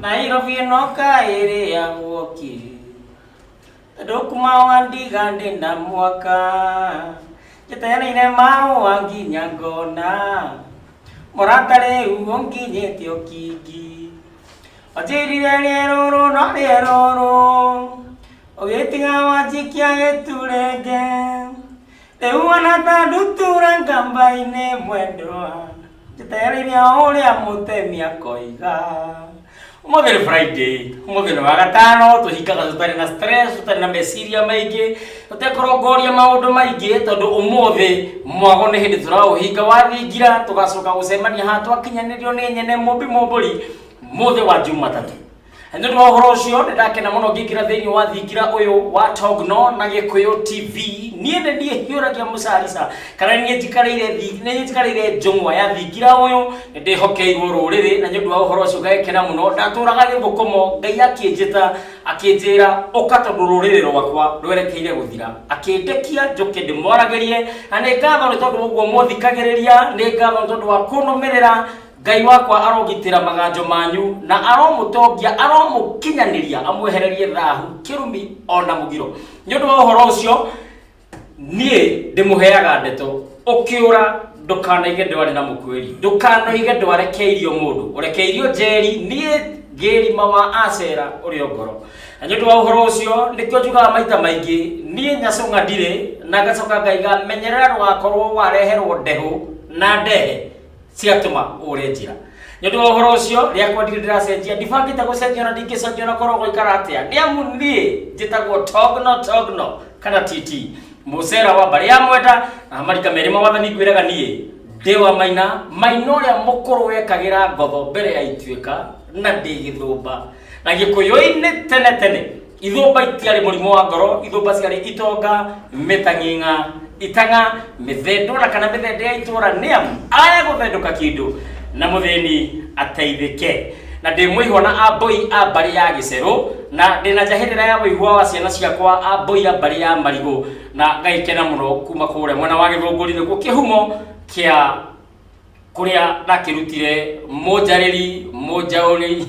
nairobi ĩno kaĩrĩagwo ki andũ kuma wandiga ndĩ na mwaka njĩtereire maũa nginya ngona mũrata rĩu ũnginyĩte ũkingi wanjĩrire rĩerũrũ no rĩerũrũ Ũgĩtiga wanjikia gĩturenge Rĩu wana ta ndutura ngamba-inĩ mwendwa Njĩtereire o ũrĩa mũtemi akoiga Ũmũthĩ nĩ Friday, ũmũthĩ nĩ wagatano, tũhingaga tũtarĩ na stress, tũtarĩ na meciria maingĩ, tũtekũrongoria maũndũ maingĩ tondũ ũmũthĩ mwago nĩ hĩndĩ tũraũhinga wathingira, tũgacoka gũcemania haha twakinyanĩrio nĩ nyene mũmbi mũmbũri mũthĩ wa Jumatatũ. Nĩ ũndũ wa ũhoro ũcio nĩ ndakena mũno ngĩingĩra thĩinĩ wa thingira ũyũ wa Togno na Gĩkũyũ TV niĩ nĩ niĩ hiũragia mũcarica kana nĩ niĩ njikarĩire thi- nĩ niĩ njikarĩire njũng'wa ya thingira ũyũ nĩ ndĩhokeirwo rũrĩrĩ na nĩ ũndũ wa ũhoro ũcio ngagĩkena mũno ndatũraga gĩthũkũmo ngai akĩnjĩta akĩnjĩra ũka tondũ rũrĩrĩ rwakwa rwerekeire gũthira akĩndekia njũke ndĩmwaragĩrie na nĩ ngatho nĩ tondũ ũguo mũthikagĩrĩria nĩ ngatho nĩ tondũ wa kũnũmĩrĩra Ngai wakwa arogitĩra maganjo manyu na aromũtongia aromũkinyanĩria amwehererie thahu kĩrumi ona mũgiro nĩ ũndũ wa ũhoro ũcio niĩ ndĩmũheaga ndeto ũkĩũra ndũkanaige ndware na mũkwĩri ndũkanaige ndware keirio mũndũ ũrekeirio njeri niĩ ngĩrima wa acera ũrĩ o ngoro na nĩ ũndũ wa ũhoro ũcio nĩkĩo njugaga maita maingĩ niĩ nyacũng'a ndirĩ na ngacoka ngaiga menyerera ndũgakorwo wareherwo ndehũ na ndehe cigatũma ũre njĩra nĩ ũndũ wa ũhoro ũcio rĩa kwa ndirĩ ndĩracenjia ndibangĩte gũcenjia na ndingĩcenjia na korwo gũikara atĩa nĩ amu niĩ njĩtagwo togno togno kana titi mũcera wa mbarĩ ya mwenda na marika merĩ mawathani ngwĩraga niĩ ndĩ wa maina maina ũrĩa mũkũrũ wekagĩra ngotho mbere ya ituĩka na ndĩ gĩthũmba na gĩkũyũ-inĩ tene tene ithũmba itiarĩ mũrimũ wa ngoro ithũmba ciarĩ itonga mĩtang'ing'a itang'a mĩthendũra kana mĩthende ya itũra nĩ amu aya gũthendũka kĩndũ na mũthĩni ateithĩke na ndĩ mũihwa na amboi a mbarĩ ya gĩcerũ na ndĩ na njahĩrĩra ya ũigua wa ciana ciakwa amboi a mbarĩ ya marigũ na ngaikena mũno kuma kũrĩa mwena wa gĩthũngũri nĩkuo kĩhumo kĩa kuria ndakirutire munjariri munjauri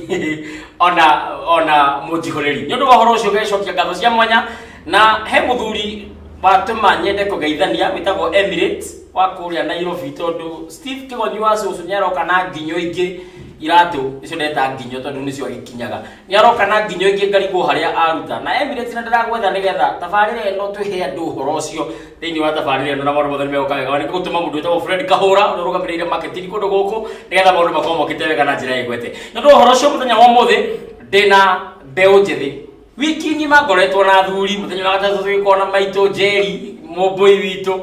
ona ona munjihuriri ni undu wa horo ucio gecokia ngatho cia mwanya na he muthuri watuma nyende kugeithania witagwo Emirates wa kuria Nairobi tondu Steve Kigonyi wa cucu nyaroka na nginyo ingi iratu nicio ndeta nginyo tondu nicio agikinyaga Nĩaroka na nginyo ingĩ ngarigwo harĩa aruta. Na Emirates na ndĩragwetha nĩgetha tabarĩra ĩno twĩhe andũ ũhoro ũcio thĩinĩ wa tabarĩra ĩno na maũndũ mothe nĩmegũka wega. Nĩ ngũtũma mũndũ wĩtagwo Fred Kahũra ũrĩa ũrũgamĩrĩire marketing kũndũ gũkũ nĩgetha maũndũ makorwo mokĩte wega na njĩra ĩgwete. Nĩ ũndũ wa ũhoro ũcio mũthenya wa ũmũthĩ ndĩna mbeũ njĩthĩ. Wiki ng'ima ngoretwo na athuri, mũthenya wa gatatũ tũgĩkorwo na maitũ Njeri, Mũmbũi witũ.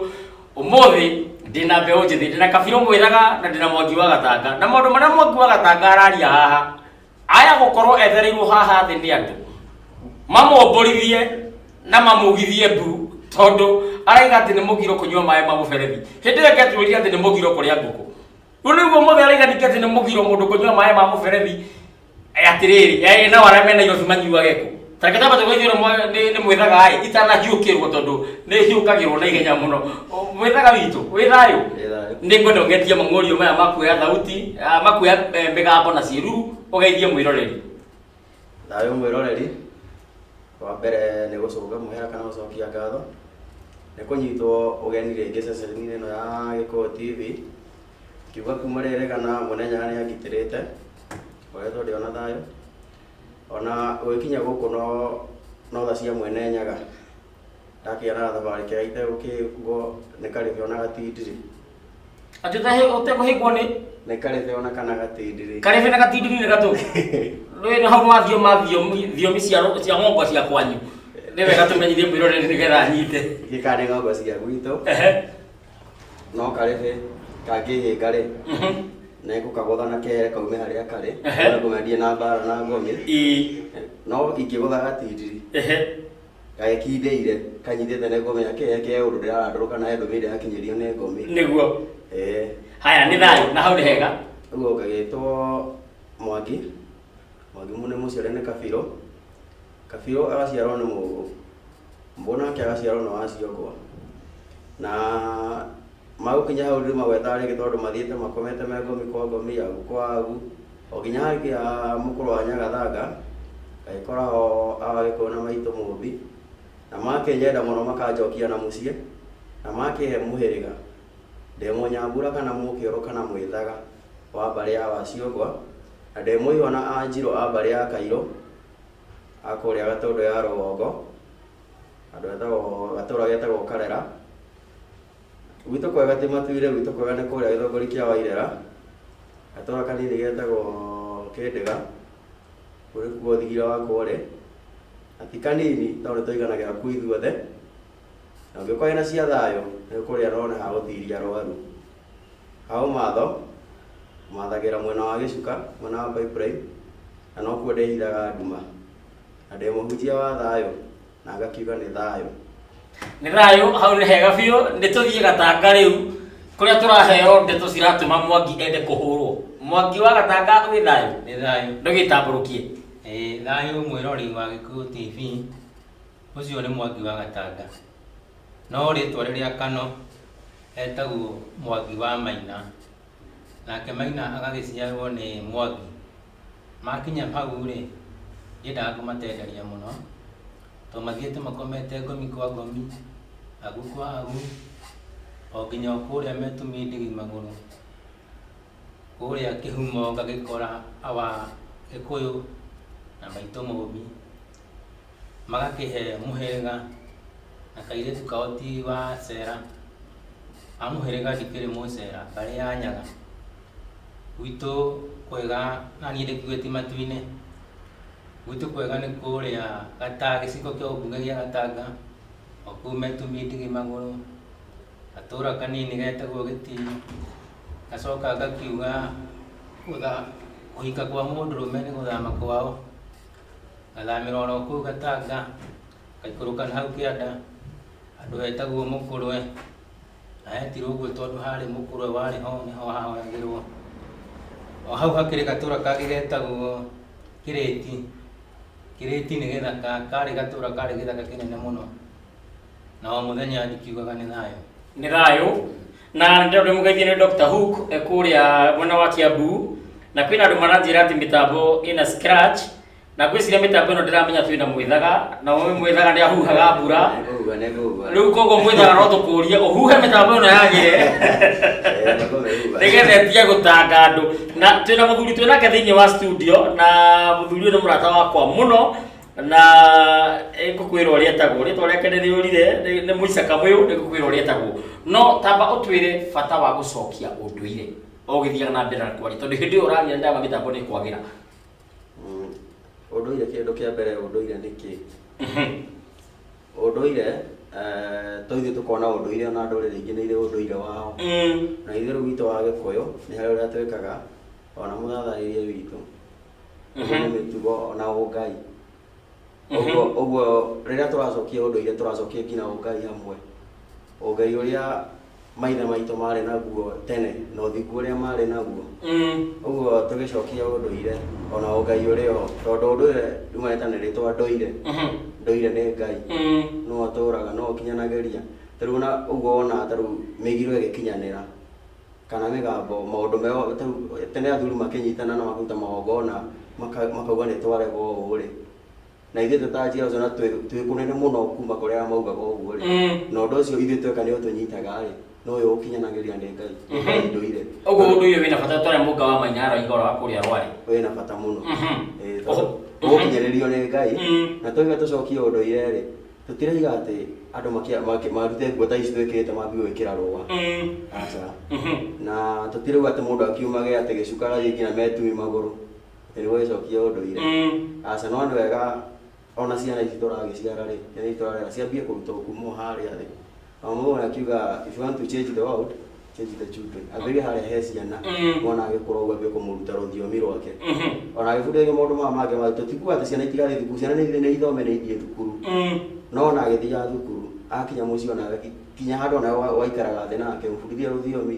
Ũmũthĩ ndĩna mbeũ njĩthĩ, ndĩna Kabirũ Mwĩraga na ndĩna Mwangi wa Gatanga. Na maũndũ marĩa Mwangi wa Gatanga araria haha... aya gũkorwo ethereirwo haha thĩ nĩ andũ mamomborithie na mamũgithie mbu tondũ araiga atĩ nĩ mũgiro kũnyua maĩ ma mũberethi hĩndĩ ĩyo ngetwĩria atĩ nĩ mũgiro kũrĩa ngũkũ rĩu rĩu ũmũthĩ araiga ningĩ atĩ nĩ mũgiro mũndũ kũnyua maĩ ma mũberethi Eh, atĩrĩrĩ eh, nao arĩa me nairobi manyuage kũ Tareke ta batoka ithuĩ rĩmwe nĩ nĩ mwĩthaga ĩ itanahiũkĩrwo tondũ nĩ hiũkagĩrwo na ihenya mũno O, mwĩthaga witũ wĩ thayũ nĩ ngwenda ũgetie mang'ũrio maya makuoya thauti ah, makuoya eh, mĩgambo na ciĩruru ũgeithie mwĩroreri thayũ mwĩroreri wa mbere nĩ gũcũnga mũhera kana gũcokia ngatho nĩ kũnyitwo ũgeni rĩngĩ ceceni-inĩ ĩno ya gĩkũyũ tv kiuga kuma rĩrĩ kana mũnenya nĩ angitĩrĩte ngoretwo ndĩ ona thayũ Ona ũgĩkinya gũkũ no no tha cia mwene nyaga ndakĩona thabarĩ kega itegũkĩhingwo nĩ karĩbe ona gatindirĩ Atĩ ũtahe- ũtekũhĩngwo nĩ nĩ karĩbe ona kana gatindirĩ karebe na gatindiri nĩ gatũ rwĩ na hau mathio mathio thiomi cia ro- cia ng'ongo cia kwanyu nĩ wega tũmenyithie mwĩroreri nĩgetha anyite gĩkanĩ ng'ongo cia gwitũ Ehe. no karehe kangĩhĩnga-rĩ nĩngũkagũtha na kere kaume harĩa karĩ Ehe. na kũmendie na mbara na ngomi Ĩ, no ingĩgũtha gatindiri ehe. gagĩkindĩire kanyitĩte nĩ ngomi yake yake ya ũndũ ndĩrarandũrũka nayo ndũmĩire yakinyĩrio nĩ ngomi nĩguo Eh, haya nĩ thayũ na hau nĩ hega ũguo ngagĩtwo mwangi mwangi mũne mũciare nĩ kabirũ Kabirũ agaciarwo nĩ Mũgũ, Mũgũ nake agaciarwo nĩ Waciongwa. Na magũkinya hau ndĩrĩmagwetaga rĩngĩ tondũ mathiĩte makomete me ngomi kwa ngomi, agu kwa agu, o nginya hagĩkinya mũkũrũ wa Nyagathanga, ngagĩkora ho Agagĩkũyũ na Maitũ Mũmbi, na makĩnyenda mũno makanjokia na mũciĩ, na makĩhe mũhĩrĩga, ndĩ Mũnyambura kana Mũkĩũrũ kana Mwĩthaga wa mbarĩ ya Waciongwa, na ndĩ Mũihwa na Anjirũ a mbarĩ ya Kairũ, a kũrĩa Gatũndũ ya rũgongo, handũ hetagwo gatũra getagwo Karera. Gwitũ kwega ti Matuire, gwitũ kwega nĩ kũrĩa gĩthũngũri kĩa Wairera, gatũra kanini getagwo Kĩndĩga, kũu nĩkuo thigira wakwa ũrĩ, na ti kanini tondũ nĩtũiganagĩra kũu ithuothe, Angĩkorwo ena cia thayũ, nĩkũrĩa arona ha gũtiria arwaru. Ha ũmatho, mathagĩra mwena wa gĩcuka, mwena wa pipeline, na nokuo ndĩhithaga nduma. Na ndĩ mũhunjia wa thayũ, na ngakiuga nĩ thayũ. Nĩ thayũ, hau nĩ hega biũ, nĩtũthiĩ Gatanga rĩu, kũrĩa tũraheo ndeto ciratũma Mwangi ende kũhũrwo. Mwangi wa Gatanga wĩ thayũ? Nĩ thayũ. Nĩũgĩtambũrũkie. Ĩĩ thayũ mwĩrori wa Gĩkũyũ TV. Ũcio nĩ Mwangi wa Gatanga, no rĩtwa rĩrĩa Kano etagwo Mwangi wa Maina, nake Maina agagĩciarwo nĩ Mwangi. Makinya hau-rĩ, niĩ ndakũmatenderia mũno, to mathiĩte makomete ngomi kwa ngomi, agu kwa agu, o nginya o kũrĩa me tũmindigi magũrũ, kũrĩa kĩhumo ngagĩkora our Gĩkũyũ na maitũ Mũmbi. magakĩhe mũhĩrĩga na kairĩtu kao ti wa cera a mũhĩrĩga ndikĩrĩ mũcera ngarĩ ya nyaga gwitũ kwega na niĩ ndĩkuĩti matu-inĩ gwitũ kwega nĩ kũrĩa gata gĩcigo kĩa ũmbunge gĩa gatanga o kũu metumi ndigi magũrũ gatũra kanini getagwo gĩtiri ngacoka ngakiuga kũhika kwa mũndũrũme nĩ gũthama kwao. Ngathamĩra oro kũu Gatanga, ngaikũrũka na hau kĩanda, handũ hetagwo Mũkũrwe, na hetirwo ũguo tondũ harĩ Mũkũrwe warĩ ho, nĩho hahoyagĩrwo. O hau hakĩrĩ gatũra kangĩ getagwo Kĩrĩti, Kĩrĩti nĩ gĩthaka, karĩ gatũra karĩ gĩthaka kĩnene mũno. na o muthenya ikiugaga ni thayo ni thayo na ndio ndio mugeithie ni Dr Hook eh, kuria mwena wa Kiambu na kwina andu maranjira ati mitambo ina scratch na gwiciria mitambo ino ndiramenya twina mwithaga na we mwithaga ni ahuhaga mbura Nĩkũhuha, nĩkũhuha. riu koguo mwithaga no tukurie uhuhe mitambo ino yagire Eh, nĩkũmĩhuha. nigetha tige gutanga andu na twina muthuri twinake thiini wa studio na muthuri uyu ni murata wakwa muno na eh, ngũkwĩra ũrĩa etagwo rĩtwa rĩake nĩ rĩũrire nĩ- nĩ mũicaka mũyũ nĩ ngũkwĩra ũrĩa etagwo no tamba ũtwĩre bata wa gũcokia ũndũire ũgĩthiaga na mbere na kwaria tondũ hĩndĩ ĩyo ũraria nĩ ndagwa mĩtambo nĩ kwagĩra Mm. ũndũire kĩndũ kĩa mbere ũndũire nĩ kĩ ũndũire eh, to ithuĩ tũkona ũndũire na ndũrĩrĩ ingĩ nĩ irĩ ũndũire wao Mm. na ithuĩ rĩu witũ wa gĩkũyũ nĩ harĩ ũrĩa twĩkaga ona mũthatharĩrie witũ ũguo nĩ mĩtugo ona ũngai ũguo ũguo rĩrĩa tũracokia ũndũire tũracokia nginya ũngai hamwe ũngai ũrĩa maithe maitũ marĩ naguo tene na ũthingu ũrĩa marĩ naguo ũguo tũgĩcokia ũndũire ona ũngai ũrĩ o tondũ ũndũire riumanĩte na rĩtwa ndũire ndũire nĩ ngai no ũtũraga no ũkinyanagĩria tarĩu ona ũguo wonaga tarĩu mĩgiro ĩgĩkinyanĩra kana mĩgambo, maũndũ meo ta rĩu tene athuri makĩnyitana na makũruta magongona maka- makauga nĩ twarega ũũ rĩ na ithuĩ twĩ ta njiaro ciona twĩ twĩ kũnene mũno kuma kũrĩ arĩa maugaga ũguo rĩ Mm. na ũndũ ũcio ithuĩ tweka nĩ ũtũnyitaga rĩ no ũyũ ũkinyanagĩria nĩ ngai nĩ ngai ndũire ũguo ũndũ ũyũ wĩna bata twarĩa mũnga wa manyara igoro wa kũrĩa rwarĩ wĩ na bata mũno Mhm. Eh, Oho. tondũ ũgũkinyĩrĩrio nĩ ngai Mhm. na tũige tũcokie ũndũire rĩ Tũtiraiga atĩ andũ makia- maki- marute nguo ta ici twĩkĩrĩte mambie gwĩkĩra rũa. Mm. Aca. Mhm. Na tũtirauga atĩ mũndũ akiumage atĩ gĩcuka agathiĩ nginya metumi magũrũ. Atĩ nĩguo gĩcokie ũndũire. Mm. Aca, no nĩ wega ona ciana ici tũragĩciara-rĩ, ciana ici tũrarera ciambie kũrutwo kuma o harĩa thĩ. amu mũndũ akiuga if you want to change the world change the children ambĩrĩrie harĩa he ciana Mm. mwana agĩkũra ũguo ambie kũmũruta rũthiomi rwake Mhm. ona agĩbundithio maũndũ maya mangĩ ma tũtikuga atĩ ciana itirathiĩ thukuru ciana nĩ nĩ ithome nĩ ithiĩ thukuru Mm. no ona agĩthiaga thukuru akinya mũciĩ ona kinya handũ ona wa- waikaraga thĩ nake ũbundithia rũthiomi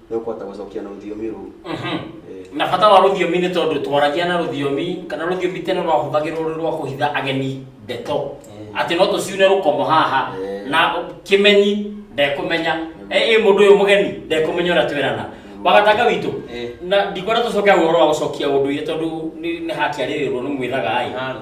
nĩ ũkũhota gũcokia na rũthiomi rũu Eh, na bata wa rũthiomi nĩ tondũ twaragia na rũthiomi kana rũthiomi tene rwahũthagĩrwo rwĩ rwa kũhitha ageni ndeto Mm. atĩ no tũciune rũkomo haha Eh. na kĩmenyi ndekũmenya ĩ mũndũ ũyũ mũgeni ndekũmenya ũrĩa twerana wagatanga witũ Eh. na ndikwenda tũcoke ũhoro wa gũcokia ũndũire tondũ nĩ nĩ hakĩarĩrĩrwo nĩ mwĩraga ĩ Halo.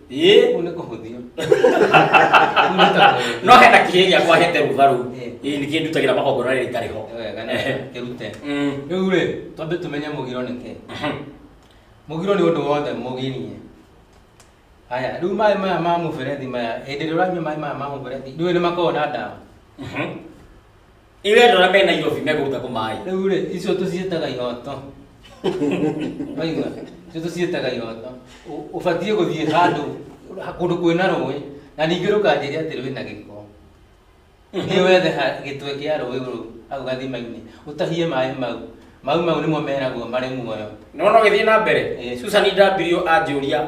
ĩĩ Kũu nĩ kũhũthio. Kũu nĩ ta kũhũthio. no hena kĩhĩ gĩakwa hete rũgarũ Eh. ĩĩ nĩkĩĩ ndutagĩra magongona rĩrĩ itarĩ ho Wega nĩ Ehe. kĩrute. Mm. Rĩu rĩ, twambe tũmenye mũgiro nĩ kĩ. Mhm. Mũgiro nĩ ũndũ wothe mũgirie. Haya, rĩu maĩ maya ma mũberethi maya, hĩndĩ ĩrĩa ũranyua maĩ maya ma mũberethi, ndũĩ nĩ makoragwo na ndawa. Mhm. Irero na bena yofi mega uta kumai. Rĩu rĩ, icio tũciĩtaga ihoto. Waigua? Icio tũciĩtaga ihoto. Ũ- Ũbatiĩ gũthiĩ handũ kũndũ kwĩna rũĩ na ningĩ rũkanjĩria atĩ rwĩna gĩko. Nĩ wethe ha- gĩtwe kĩa rũĩ rũu hau gathima-inĩ ũtahie maĩ mau. Maĩ mau nĩmo meragwo marĩ muoyo. Nona githii na mbere. Eh. Susan Ndambirio anjũria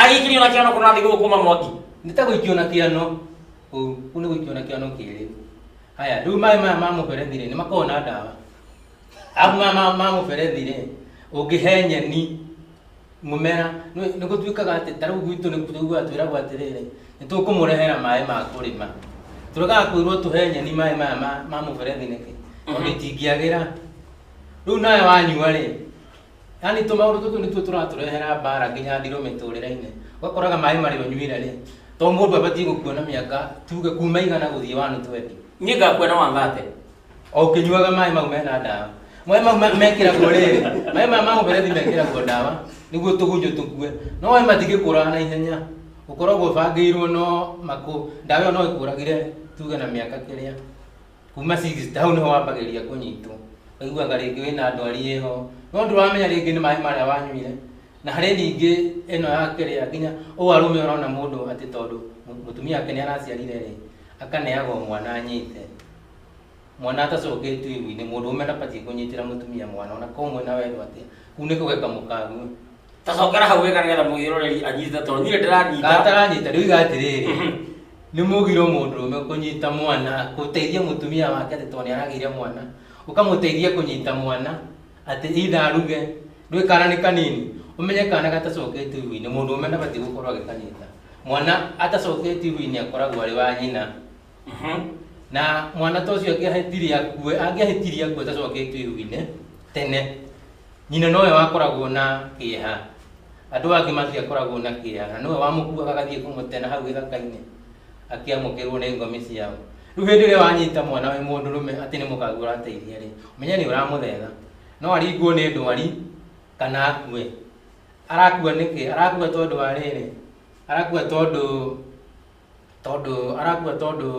Agĩikĩrio na kĩano kũna thĩ gũkũma mwaki. Nĩ ta gũikio na kĩano ũũ, kũu nĩ gũikio na kĩano kĩrĩ. Haya, rĩu maĩ maya ma mũberethi-rĩ, nĩ makoragwo na ndawa. Arabu maya ma- ma mũberethi-rĩ, ũngĩhe nyeni mũmera, nĩ nĩ gũtuĩkaga atĩ ta rĩu gwitũ nĩ tũiguaga twĩragwo atĩrĩrĩ, nĩ tũkũmũrehera maĩ ma kũrĩma. Tũregaga kwĩrwo tũhe nyeni maĩ maya ma- ma mũberethi nĩkĩ? Tondũ itingĩagĩra. Rĩu nawe wanyua-rĩ, yani tå maå ndå tå tå nä tuo tå ratå rehera mbara nginya ndirå mä tå rä rainä ũgakoraga maĩ marä å nyuire rä to må ndå abatiä gå kuona mä aka tuge kuma igana gå thiä wanå twendi niä ngakuona wangate o å kä nyuaga maä mau mena ndawa maä mau ma- mekĩragwo rĩrĩ maä maya ma mũberethi mekĩragwo ndawa nĩguo tũgunyũ tũkue no maĩ matingĩ kũraga na ihenya ũkoragwo ũbangĩirwo no makũ ndawa ĩyo no ĩkũragire tuge na mĩaka kĩrĩa kuma six hau niho wambagĩrĩria kũnyitwo aiguaga rĩngĩ wĩna ndwari ĩho no ndũramenya rĩngĩ nĩ maĩ marĩa wanyuire na harĩ ningĩ ĩno ya kĩrĩa nginya ũũ arũme ũrona mũndũ atĩ tondũ mũ- mũtumia wake nĩ araciarire rĩ akaneagwo mwana anyite mwana atacokĩtio igu-inĩ mũndũ ũme ndabatiĩ kũnyitĩra mũtumia mwana ona ko mwĩna wendo atĩa kuu nĩ kũgeka mũkague tacokera hau wega nĩgetha mũgĩroreri anyite tondũ niĩ ndĩranyita gataranyita rĩu iga atĩrĩrĩ Mhm. nĩ mũgiro mũndũrũme kũnyita mwana gũteithia mũtumia wake atĩ tondũ nĩ aragĩire mwana ũkamũteithia kũnyita mwana atĩ itha aruge ndũĩ kana nĩ kanini ũmenye kana gatacoketio ihu-inĩ mũndũrũme ndabatiĩ gũkorwo agĩkanyita mwana atacoketio ihu-inĩ akoragwo arĩ wa nyina Mhm. na mwana ta ũcio angĩahĩtirie akue angĩahĩtirie akue tacoketio iru-inĩ tene nyina nowe wakoragwo na kĩeha andũ angĩ matiakoragwo na kĩeha na nowe wamũkuaga agathiĩ kũmũtena hau gĩthaka-inĩ akĩamũkĩrwo nĩ ngomi ciao rĩu hĩndĩ ĩrĩa wanyita mwana wĩ mũndũ rũme atĩ nĩ mũkagu ũrateithia rĩ menya nĩ ũramũthetha no aringwo nĩ ndwari kana akue arakua nĩkĩ arakua tondũ wa rĩrĩ arakua tondũ tondũ arakua tondũ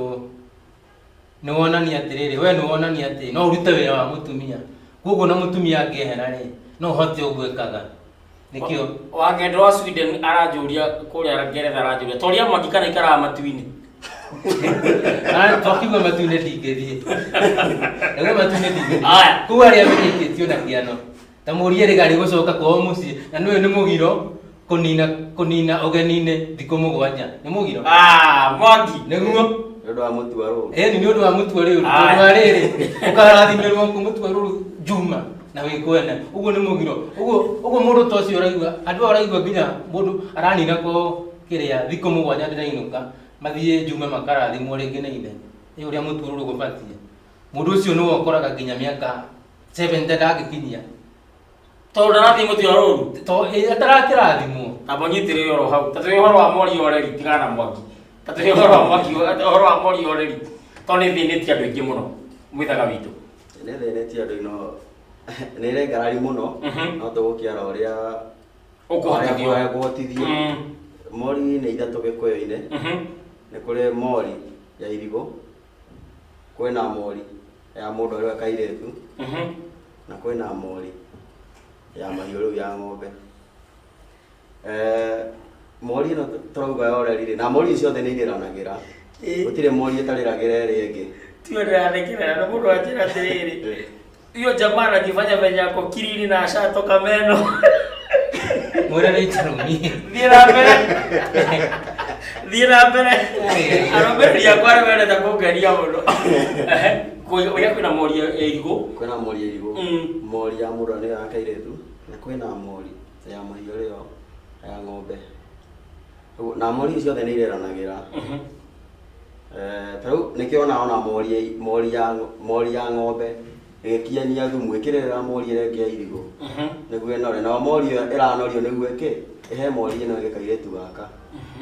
nĩ wonania atĩrĩrĩ we nĩ wonania atĩ no ũrute wĩra wa mũtumia koguo na mũtumia angĩehera rĩ no ũhote ũgwĩkaga nĩkĩo wakendwa wa sweden aranjũria kũrĩa ngeretha aranjũria toria mwaki kana ikaraga matu-inĩ twakiuga matu-inĩ ndingĩthiĩ ĩwe matu-inĩ ndingĩthiĩ Aya. koguo arĩa menyekĩtio na kĩano ta mũrie rĩga rĩgũcoka kwao mũciĩ na nĩũyũ nĩ mũgiro kũnina kũnina ũgeninĩ thikũ mũgwanja nĩ mũgiro Ah, Mwangi. nĩguo Nĩ ũndũ wa mũtu wa rũũru. ĩni nĩ ũndũ wa mũtua rĩu Aye. tondũ wa rĩrĩ ũkarathimĩrwo kũ mũtua rũrũ njuma na wĩkwene ũguo nĩ mũgiro ũguo ũguo mũndũ ta ũcio ũraigua andũ aya ũraigua nginya mũndũ aranina ko kĩrĩa thikũ mũgwanja ndĩrainũka mathiĩ njuma makarathimwo rĩngĩ nĩ ithe ĩ ũrĩa mũtua rũrũ gũbatiĩ Mũndũ ũcio nĩwe ũkoraga nginya mĩaka 70 ndangĩkinyia. Tondũ ndarathiĩ mũtĩ wa rũru. Tondũ eh, atarakĩrathimwo. Na mũnyitĩrĩre oro hau. Ta tũrĩ ũhoro wa mori oreri tigana na mwaki. Ta tũrĩ ũhoro wa mwaki ũhoro wa mori oreri. Tondũ nĩ thĩnĩtie andũ aingĩ mũno. Mwĩthaga witũ. Nĩ thĩnĩtie andũ ino nĩ rengarari mũno mhm. no tũgũkĩara ũrĩa ũkũhotithio mm. mori nĩ ithatũ gĩkũyũ-inĩ mhm. nĩ kũrĩ mori ya irigũ kwĩna mori ya mũndũ arĩ we kairĩtu Mhm. na kwĩna mori ya mahiũ rĩu ya ng'ombe Eh, mori ĩno tũrauga yorerire na mori ciothe nĩ irĩranagĩra Ĩĩ. gũtirĩ mori ĩtarĩragĩra ĩrĩa ĩngĩ tiwe ndĩrathekerera nĩ mũndũ anjĩra atĩrĩrĩ Hiyo jamaa anajifanya venye ako kiriri na ashatoka meno. Mwana ni tarumie. Thiĩ na mbere. Thiĩ na mbere. Arũmĩrĩri akwa nĩ mendete kũngeria mũno. Kũrĩa kwĩna mori ya irigũ. kwĩna mori ya irigũ Mm. mori ya mũndũ nĩyo ya kairetu na kwĩna mori ya mahiũ rĩo ya ng'ombe Ũguo- na mori icio ciothe nĩ ireranagĩra Mhm. Eh, ta rĩu nĩkĩo ona ona mori ya- mori ya mori ya ng'ombe ĩgĩkiania thumu ĩkĩrĩrĩra mori ĩrĩa ĩngĩ ya irigũ nĩguo ĩnore nayo mori ĩyo ĩranorio nĩguo ĩkĩ ĩhe mori ĩno ĩngĩ kairĩtu gaka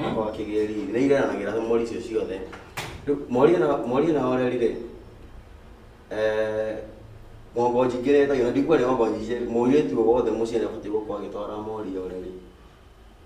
gako gakĩgĩe riri nĩ ireranagĩra mori icio ciothe rĩu mori ĩno mori ĩno yoreri rĩ eh, ng'ombe njingĩ nĩ ĩtagio na ndikuona nĩ ng'ombe nyingĩ mũirĩtu o wothe mũciĩ nĩ abatiĩ gũkorwo agĩtwara mori yoreri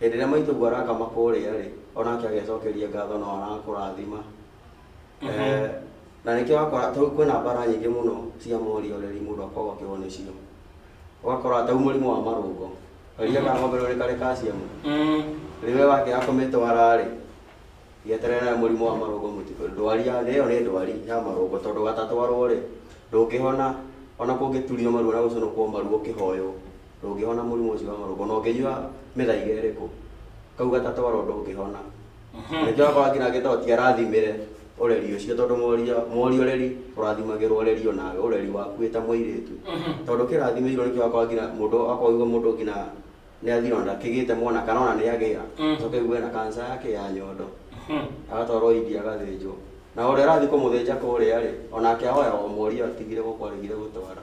Hĩndĩ ĩrĩa maitũguo arakama kũrĩa-rĩ, o nake agecokeria ngatho nao arakũrathima. Eh, na nĩkĩo wakora tau kwĩna mbara nyingĩ mũno cia morioreri mũndũ akoragwo akĩgwa nĩcio. Ũgakora tau mũrimũ wa marũngo, karia ka ng'ombe rĩu nĩ karĩ calcium, Mm. rĩu we wakĩaga kũmĩtwara-rĩ, gĩeterere nawe mũrimũ wa marũngo mũtitũ. Ndwari ya ĩyo nĩ ndwari ya marũngo tondũ gatatwarwo-rĩ, ndũngĩhona ona kũngĩturio maru ona gũcũnũkwo maru ũkĩhoywo. ndũngĩhona mũrimũ ũcio wa marũngo na ũngĩnyua mĩthaiga ĩrĩkũ kau gatatwaro ndũngĩhona nĩkĩo akorwo nginya agĩtao ti arathimĩre ũreri ũcio tondũ moria moria ũreri ũrathimagĩrwo ũreri onawe ũreri waku wĩ ta mũirĩtu tondũ kĩrathimĩirwo nĩkĩo akorwo nginya mũndũ akorwo aigua mũndũ nginya nĩ athirwo na ndakĩgĩte mwana kana ona nĩ agĩa Mm. coke aigue na kanca yake ya nyondo agatwarwo india agathĩnjwo na ũrĩa arathiĩ kũmũthĩnja kũrĩa rĩ onake ahoya o moria atigire gũkwarĩgire gũtwara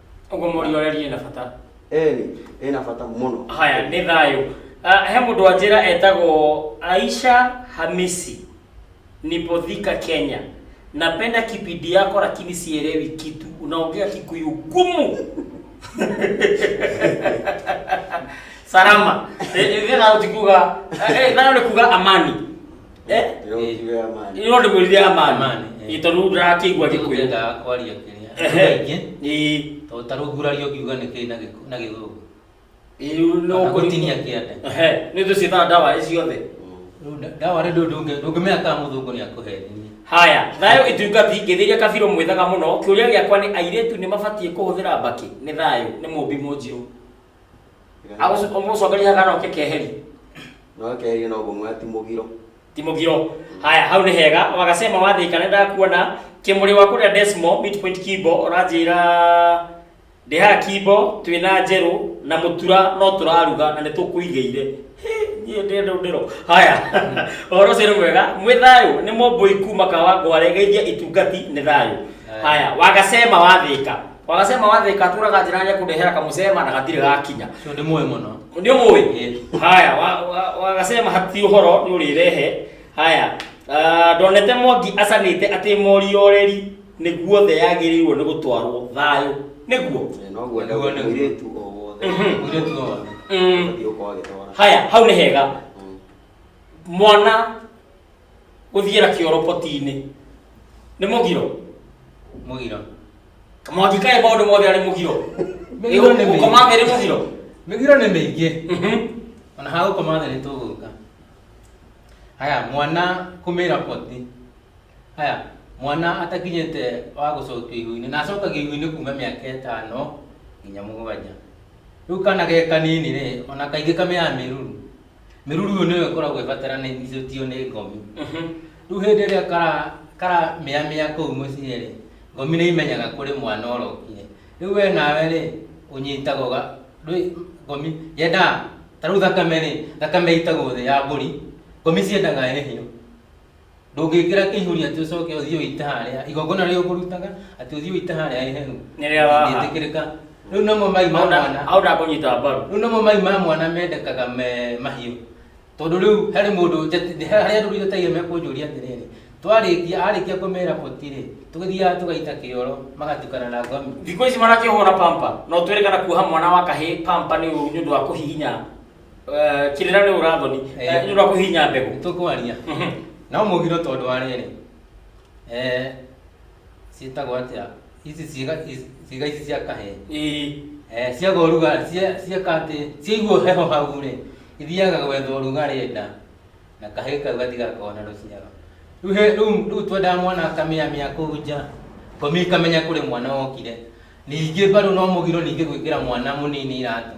Ũguo mũriũ areria na bata. Eni, ena bata mũno. Haya, nĩ thayũ. Ah, He mũndũ wa njĩra etagwo Aisha Hamisi, Nipodhika, Kenya. Napenda kipindi yako lakini sielewi kitu. Unaongea Kikuyu gumu. Salama. Eh, eh, thayũ ti kuga, eh, eh, thayũ ni kuga amani. Eh? Yo kiwe amani. Ino ndi mwithia amani. Amani, eh. Itonu ndakigwa gikwe. Tũkwendaga kwaria kĩrĩa Ehe. kaingĩ Ii. tondũ ta rĩu nguraria ũngiuga nĩ kĩĩ na gĩkũ- na gĩthũngũ Iu no Kana gũtinia kĩande. Ehe. Nĩ tũciĩtaga ndawa ici ciothe. Rĩu nda- ndawa rĩ ndũ- ndũngĩ- ndũngĩmenya kana mũthũngũ nĩ akũhenia Haya, thayũ itungati ngĩthĩria kabirũ mwĩthaga mũno. Kĩũria gĩakwa nĩ airĩtu nĩ mabatiĩ kũhũthĩra mbakĩ? Nĩ thayũ, nĩ mũmbi mũnjirũ. agũcokeria kana oke keheri no keheri no gũmwa ti mũgiro ti mũgiro haya hau nĩ hega wagasema wathĩka nĩ ndakuona kĩmũrĩ wa kũrĩa desmo midpoint kimbo ũranjĩra ndĩhaga kimbo twĩna njerũ na mũtura no tũraruga na nĩ tũkũigĩire niĩ ndĩ ndũ ndĩro haya ũhoro ũcio nĩ mwega mwĩ thayũ nĩ mũmbũi kuma kawa ngware geithia itungati nĩ thayũ haya wagasema wathĩka Wanasema wathe katura kajirani kudehera kamusema na katire gakinya. Sio ni moyo mwana. Ndio moyo. Haya, wa- wa- wakasema hati uhoro ni urirehe. Haya. ah, Ndonete Mwangi acanite ati morioreri niguo the yagirirwo ni gutwarwo thayo. Niguo. Noguo Nĩguo, nĩguo. mũirĩtu o wothe Mhm. Mwire tu wao. Mm. ũthiĩ ũkorwo agĩtwara Haya, hau ni hega. mwana guthiera kioro potini ni mugiro mugiro kamwangi kae maundu mothe ari mugiro Migiro nĩ mĩingĩ. koma meri mugiro mĩgiro nĩ mĩingĩ Mhm. ona ha gũkoma thĩ nĩ tũgũka haya mwana kumĩra poti haya mwana atakinyĩte wa gũcokio igu-inĩ na acokagio igu-inĩ kuma mĩaka ĩtano nginya mũgwanja rĩu kana ge kanini rĩ ona kaingĩ kamĩaga mĩruru mĩruru ĩyo nĩyo ĩkoragwo ĩbataranĩtio nĩ ngomi rĩu hĩndĩ ĩrĩa kara- karamĩamĩa kũu mũciĩ rĩ ngomi nĩ imenyaga kũrĩ mwana ũrokire rĩu we nawe rĩ ũnyitaga ũga ndwĩ- ngomi yendaga ta rĩu thakame rĩ thakame ĩitagwo thĩ ya mbũri ngomi ciendaga ĩhĩo ndũngĩkĩra kĩihũri atĩ ũcoke ũthiĩ ũite harĩa igongona rĩrĩa ũkũrutaga atĩ ũthiĩ ũite harĩa iheru Nĩ rĩa waha. ndĩtĩkĩrĩka rĩu namo mai ma mwana au ndakũnyita mbaru rĩu namo mai ma mwana mendekaga me mahiũ tondũ rĩu harĩ mũndũ njati- harĩa andũ njatagia mekũnjũria atĩrĩrĩ twarĩkia arĩkia kũmera boti-rĩ tũgĩthiaga tũgaita kĩoro magatukana na ngomi thikũ ici marakĩhũra pampa no twĩrĩkana kuoha mwana wa kahĩ pampa nĩ ũru nĩ ũndũ wa kũhihinya Eh, kirira rä urathoni Eh. rä kå hinya mbegå tũkwaria Mhm. no mũgiro tondũ wa rĩrĩ Eh, ciĩtagwo atĩa ici ciĩga ici- ciĩga ici cia kahee Ĩĩ. Eh, ciaga ũrugarĩ cia- cieka atĩ ciaigua heho hau rĩ ithiaga gwetha ũrugarĩ nda na kahĩĩ kau gatigakona rũciaro Rĩu he- rĩu rĩu twendaga mwana akamĩamĩa kũu nja komi ikamenya kũrĩ mwana wokire ningĩ mbarũ no mũgiro ningĩ gwĩkĩra mwana mũnini iratũ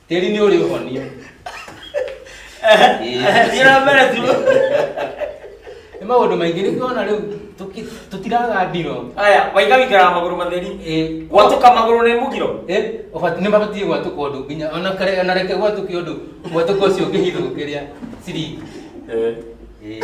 Tĩri nĩ ũrĩ ũhonia. Thiĩ na mbere tu. Nĩ maũndũ maingĩ nĩ kuona rĩu tũki- tũtiraga ndiro. Aya, waiga wĩikaraga magũrũ matheri. Ĩ, Gwatũka magũrũ nĩ mũgiro. Ĩ, ũbati- nĩ mabatiĩ gwatũka ũndũ nginya ona kare- ona reke gwatũke ũndũ gwatũka ũcio ũngĩhithũkĩria ciringi. Ĩ.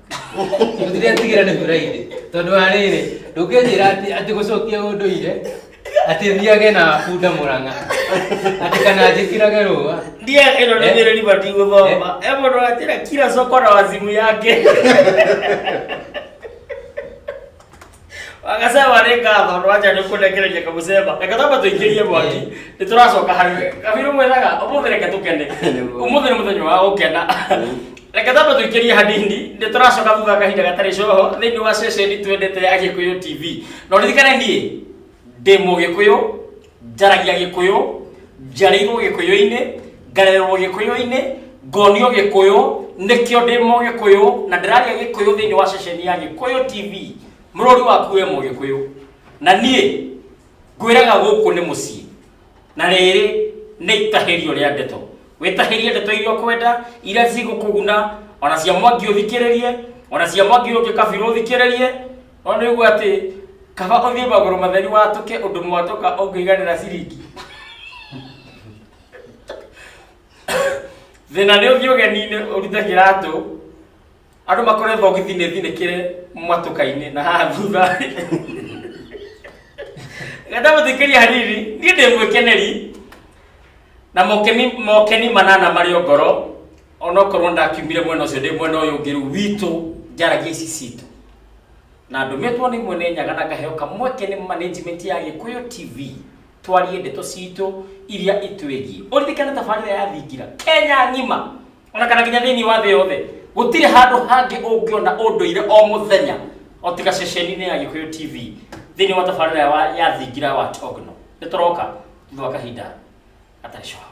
Gũtirĩ atigĩra nĩ kũraire. Tondũ wa rĩrĩ, ndũngĩnjĩra atĩ atĩ gũcokia ũndũire atĩ thiage na bunda mũrang'a atĩ kana njĩkĩrage rũa Ndiye ĩno nĩ Eh. nyĩrĩri bati gũthoma. He mũndũ wanjĩra kira cokora wa thimũ yake. wakasema nĩ ngatho nwaja nĩ kũnekereria kamũcemba reke tamba tũingĩrie mwaki nĩ tũracoka harĩ we kabiru mwĩraga ũmũthĩ reke tũkene ũmũthĩ nĩ mũthenya wa gũkena reke tamba tũingĩrie hanini nĩ tũracoka thutha wa kahinda gatarĩ coho thĩinĩ wa ceceni twendete ya gĩkũyũ tv na ũririkane niĩ ndĩ mũgĩkũyũ njaragia gĩkũyũ njarĩirwo gĩkũyũ-inĩ ngarererwo gĩkũyũ-inĩ ngonio gĩkũyũ nĩkĩo ndĩ mũgĩkũyũ na ndĩraria gĩkũyũ thĩinĩ wa ceceni ya gĩkũyũ tv mũrũri waku we mũgĩkũyũ na niĩ ngwĩraga gũkũ nĩ mũciĩ na rĩrĩ nĩ itahĩrio rĩa ndeto wĩtahĩrie ndeto iria ũkwenda iria cigũkũguna ona cia mwangi ũthikĩrĩrie ona cia mwangi ũngĩ kabirũ ũthikĩrĩrie Ona nĩguo atĩ kaba ũthiĩ magũrũ matheri watũke ũndũ mwatũka ũngĩiganĩra ciringi. Thĩna nĩ ũthiĩ ũgeni-inĩ ũrute kĩratũ, andũ makore thogithi nĩ thinĩkĩre mwatũka-inĩ na haha thutha. Ngenda mũthikĩria hanini, niĩ ndĩ mwĩkeneri na mokeni, mokeni manana marĩ o ngoro onokorwo ndakiumire mwena ũcio ndĩ mwena ũyũ ũngĩ rĩu witũ njaragia ici citũ na ndũmĩtwo nĩ mwene nyaga na ngaheo kamweke nĩ management ya gĩkũyũ tv twarie ndeto citũ iria itwĩgiĩ ũririkane tabarĩra ya thingira kenya ng'ima ona kana nginya thĩinĩ wa thĩ yothe gũtirĩ handũ hangĩ ũngĩona ũndũire o mũthenya o tiga ceceni-inĩ ya gĩkũyũ tv thĩinĩ wa tabarĩra ya wa- ya thingira wa togno nĩ tũroka thutha wa kahinda gatarĩ coho